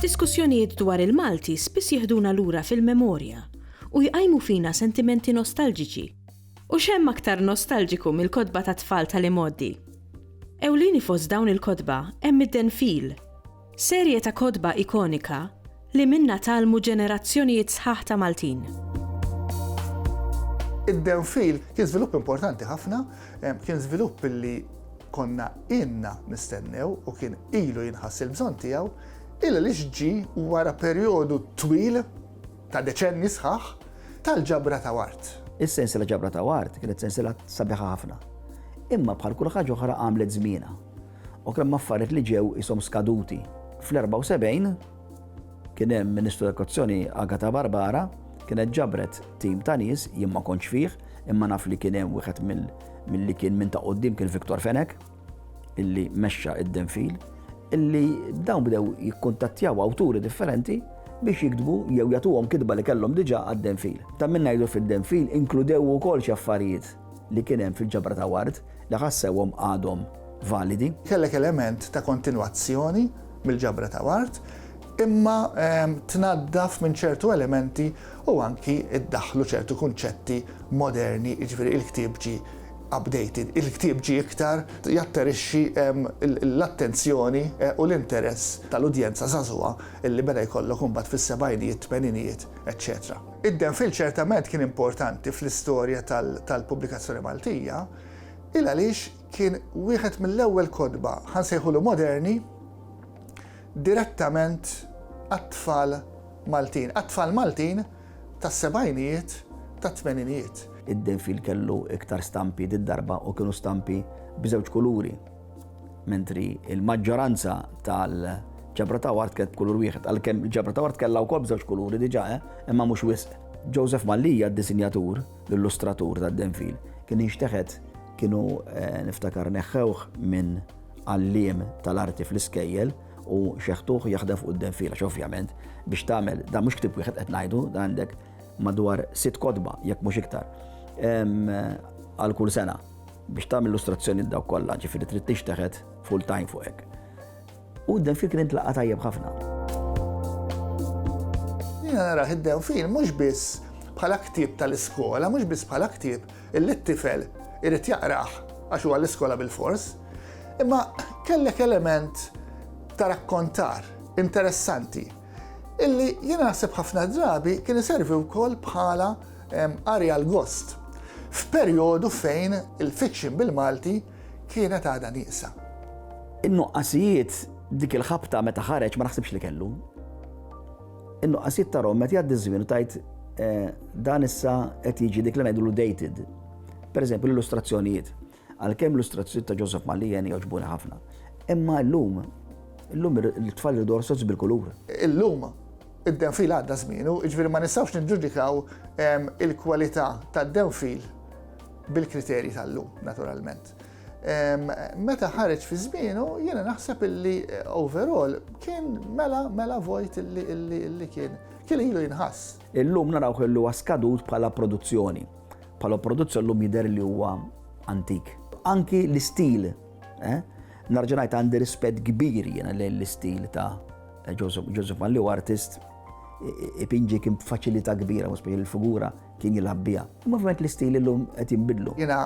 Diskussjonijiet dwar il-Malti spiss jihduna lura fil-memorja u jqajmu fina sentimenti nostalġiċi. U xem aktar nostalġiku mill-kodba ta' tfal tal-imoddi. Ewlini fost dawn il-kodba hemm id-denfil, Serje ta' kotba ikonika li minnha tgħallmu ġenerazzjonijiet sħaħ ta' Maltin. Id-downfill kien żvilupp importanti ħafna, kien żvilupp li konna inna nistennew u kien ilu jinħass il-bżonn tiegħu, illa li ġi wara perjodu twil ta' deċenni sħaħ tal-ġabra ta' wart. Is-sens li ġabra ta' wart kienet sensila sabiħa ħafna. Imma bħal kull ħaġa oħra għamlet żmienha. u kien hemm affarijiet li ġew ishom skaduti. Fl-74 kien hemm Ministru tal-Edukazzjoni Agata Barbara kienet ġabret tim ta' nies jien ma kontx fih imma naf li kien hemm wieħed milli kien minn ta' qudiem kien Viktor Fenek illi mexxa id-denfil illi dawn bdew jikkuntattjaw awturi differenti biex jiktbu jew jagħtuhom kitba li kellhom diġà għad-denfil. Ta' min ngħidu fid-denfil inkludew ukoll xi affarijiet li kien hemm fil-ġabra ta' Ward li ħassewhom għadhom validi. Kellek element ta' kontinwazzjoni mill-ġabra ta' Ward imma ehm, tnaddaf minn ċertu elementi u anki iddaħlu ċertu kunċetti moderni, jiġifieri il-ktieb ġi updated, il-ktieb ġi iktar jatterixxi ehm, l-attenzjoni eh, u l-interess tal-udjenza żagħżugħa illi beda jkollok imbagħad fis-sebgħinijiet, tmeninijiet, eċċetera. Id-Denfil ċertament kien importanti fl-istorja tal-pubblikazzjoni Maltija, il għaliex kien wieħed mill-ewwel kotba, ħa nsejħulu moderni, direttament għat-tfal Maltin, għat-tfal Maltin tas-sebgħinijiet, tat-tmeninijiet. Id-Denfil kellu iktar stampi did-darba u kienu stampi b'żewġ kuluri. Mentri l-maġġoranza tal-ġabra ta' wart kienet b'kulur wieħed, għalkemm il-ġabra ta' wart kellha wkoll b'żewġ kuluri diġà, eh, imma mhux wisq. Joseph Mallia, d-disinjatur, l-illustratur tad-denfil, kien inxteħet kienu eh, niftakar neħħewh minn għalliem tal-arti fl-iskejjel u xeħtuħ jaħdem fuq id-denfil, għax ovvjament biex tagħmel dan mhux ktib wieħed qed ngħidu, għandek madwar sitt kodba jekk mhux iktar għal kull sena. biex tagħmel illustrazzjoni l dawk kollha, ġifieri trid tixteħet full time fuq hekk. U den fikri ntlaqa' tajjeb ħafna. Jiena nara id-dew fin mhux biss bħala ktieb tal-iskola, mhux biss bħala ktieb illi t-tifel irid jaqrah għax huwa l-iskola bil-fors, imma kellek element ta' rakkontar interessanti. illi jien naħseb ħafna drabi kien iservi wkoll bħala qari għal gost f'perjodu fejn il-fiction bil-Malti kienet għadha nieqsa. In-nuqqasijiet dik il-ħabta meta ħareġ ma naħsibx li kellu. In-nuqqasijiet ta' Rom meta jgħaddi żmien u tajt eh, dan issa qed jiġi dik li ngħidulu dated. Pereżempju l-illustrazzjonijiet. Għalkemm l-ilustrazzjonijiet ta' Joseph Malien jogħġbuni ħafna. Imma illum, illum it-tfal iridu orsoz bil-kulur. Illum, id-denfil għadda żmienu, jiġifieri ma nistgħux niġġudikaw il-kwalità tad-denfil bil-kriterji tal-lum, naturalment. Meta ħareġ fi żmienu, jiena naħseb illi overall kien mela mela vojt illi kien kien ilu jinħass. Illum narawh li huwa skadut bħala produzzjoni. Bħala produzzjoni llum jidher li huwa antik. Anki l-istil, eh? Narġa' ngħid għandi rispett kbir jiena lejn l-istil ta' Joseph Malli u artist ipinġi kien b'faċilità kbira, mhux il-figura kien jilgħab biha. Imma ovvjament l-istil illum qed jinbidlu. Jiena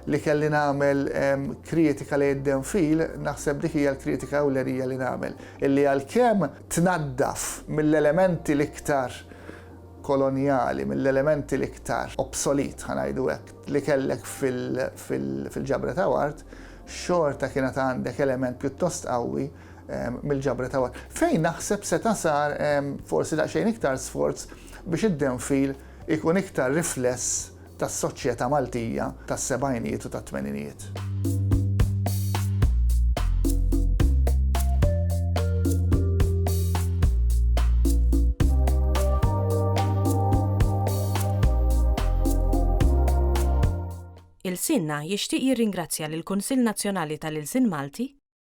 li kelli nagħmel ehm, kritika li id fil, naħseb dik hija l-kritika ewlenija li nagħmel. Illi għalkemm tnaddaf mill-elementi l-iktar kolonjali, mill-elementi l-iktar obsolete, ħa ngħidu hekk, li kellek fil-ġabra ta' ward, xorta kien għad għandek element pjuttost qawwi mill-ġabra ta' ward. Fejn naħseb seta' sar forsi daqsxejn iktar sforz biex id-downfill ikun iktar rifless tas-soċjetà Maltija tas-sebgħinijiet u tat-tmeninijiet. Ilsienna jixtieq jirringrazzja lill-Kunsill Nazzjonali tal-Ilsien Malti,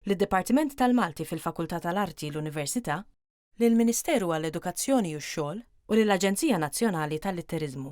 lid-Dipartiment tal-Malti fil-Fakultà tal-Arti l-Università, lill-Ministeru għall-Edukazzjoni u x-Xogħol u lill-Aġenzija Nazzjonali tal-Litteriżmu.